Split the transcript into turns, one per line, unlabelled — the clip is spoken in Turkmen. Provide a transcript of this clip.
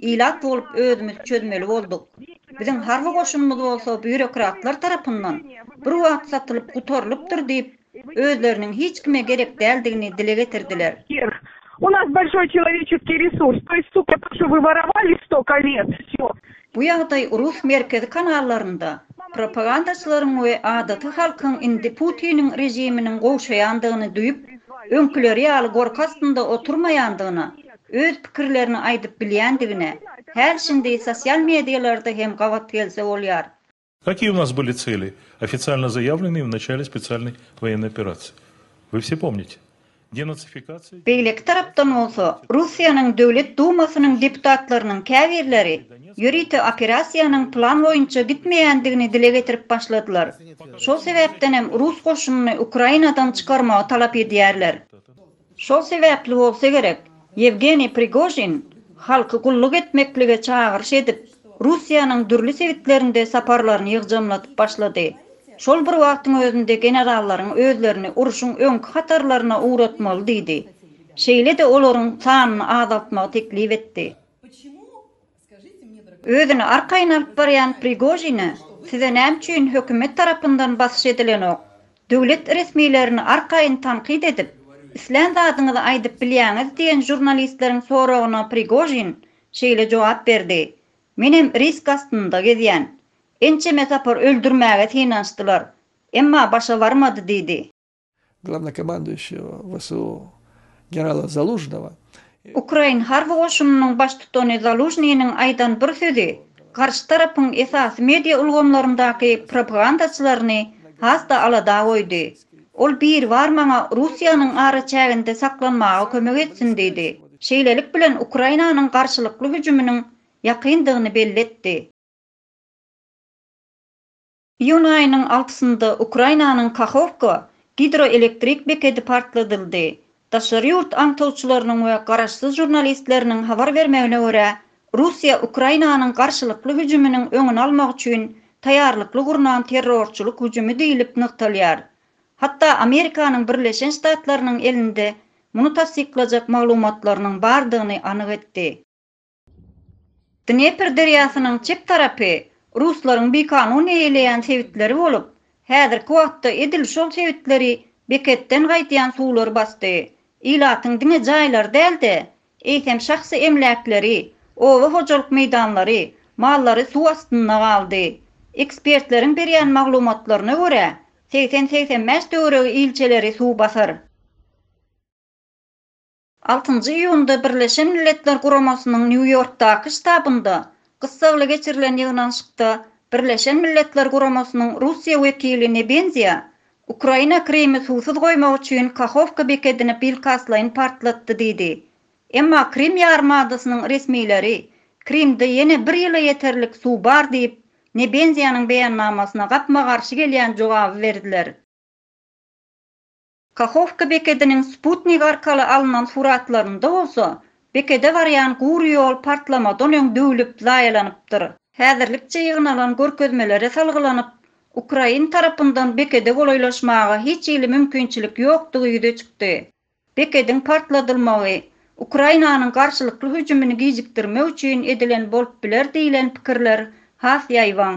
Ilat bolup özümiz çözmeli bolduk. Biziň harby goşunymyz bolsa býurokratlar tarapyndan bir wagt satylyp gutarylypdyr diýip, özleriniň hiç kime gerek däldigini dile getirdiler. U nas
bolşoý çeloweçeskiý resurs, to ýest suko to, şo wy worowali stoko let, sýo. Bu ýagdaý
rus merkezi kanallarynda propagandaçylaryň we adaty halkyň indi Putiniň režiminiň gowşaýandygyny duýup, öňküleri ýaly gorky astynda oturmaýandygyna, öz pikirlerini aýdyp bilýändigine häl-şindi sosial mediýalarda hem gabat gelse bolýar. Kakie u nas
byli celi, ofitsialno zayavleniye v naçale specialnoy voyennay operaciye? Vy vse pomnite? Denacifikaciya, demibilizasiya. Beýleki tarapdan
bolsa, Russiýanyň Döwlet Dumasynyň deputatlarynyň käbirleri ýörite operasiýanyň plan boýunça gitmeýändigini dile getirip başladylar. Şol sebäpdenem rus goşunyny Ukrainadan çykarmagy talap edýärler. Şol sebäpli bolsa gerek, Ýewgeniý Prigožin halky gulluk etmeklige çagyryş edip, Russiýanyň dürli sebitlerinde saparlaryny ýygjamladyp başlady. Şol bir wagtyň özünde generallaryň özlerini urşuň öňki hatarlaryna ugratmaly diýdi. Şeýle-de olaryň sanyny azaltmagy teklip etdi. Özüni arkaýyn alyp barýan Prigožine size näme üçin hökümet tarapyndan basyş edilenok? Döwlet resmilerini arkaýyn tankyt edip, islän zadyňyzy aýdyp bilýäňiz diýen žurnalistleriň soragyna Prigožin şeýle jogap berdi, Menem risk astynda gezýän. Ençeme sapar öldürmäge synanyşdylar, emma başa barmady diýdi. Glownokomanduýuşiýa
WSU generala Zalužnywa we. Ukrain
harby goşunynyň baştutany Zalužnynyň aýdan bir sözi garşy tarapyň esasy media ulgamlaryndaky propagandaçylaryny has-da alada goýdy. Ol Biribar maňa Russiýanyň araçäginde saklanmaga kömek etsin diýdi. Şeýlelik bilen Ukrainanyň garşylykly hüjüminiň ýakyndygyny belli etdi. Iýun aýynyň altysynda Ukrainanyň Kahowka gidroelektrik bekedi partladyldy. Daşary ýurt aňtawçylarynyň we garaşsyz žurnalistleriniň habar bermegine görä, Russiýa Ukrainanyň garşylykly hüjüminiň öňüni almak üçin taýýarlykly gurnan terrorçylyk hüjümi diýlip nygtalýar. Hatda Amerikanyň Birleşen Ştatlarynyň elinde muny tassyklajak maglumatlarynyň bardygyny anyk etdi. Dnepr derýasynyň çep tarapy ruslaryň bikanun eýeleýän sebitleri bolup, häzirki wagtda edil şol sebitleri beketden gaýdýan suwlar basdy. Ilatyň diňe jaýlary däl-de, eýsem şahsy emläkleri, oba hojalyk meýdanlary, mallary suw astynda galdy. Ekspertleriň berýän maglumatlaryna görä, segsen-segsen bäş töweregi ilçeleri suw basar. Altynjy iýunda Birleşen Milletler Guramasynyň Nýu-Ýorkdaky ştabynda gyssagly geçirilen ýygnanyşykda Birleşen Milletler Guramasynyň Russiýa wekili Nebenziýa Ukraina Krymy suwsuz goýmak üçin Kahowka bekedini bilkastlaýyn partlatdy diýdi. Emma Krym ýarym adasynyň resmileri Krymda ýene bir ýyla ýeterlik suw bar diýip, Nebenziýanyň beýannamasyna gapma-garşy gelýän jogaby berdiler. Kahowka bekediniň sputnik arkaly alnan suratlarynda bolsa, bekede barýan gury ýol partlamadan öň döwlüp, zaýalanypdyr. Häzirlikçe ýygnalan görkezmelere salgylanyp, ukrain tarapyndan bekede golaýlaşmaga hiç hili mümkinçilik ýokdugy ýüze çykdy. Bekediň partladylmagy Ukrainanyň garşylykly hüjümini gijikdirmek üçin edilen bolup biler diýlen pikirler has ýaýbaň.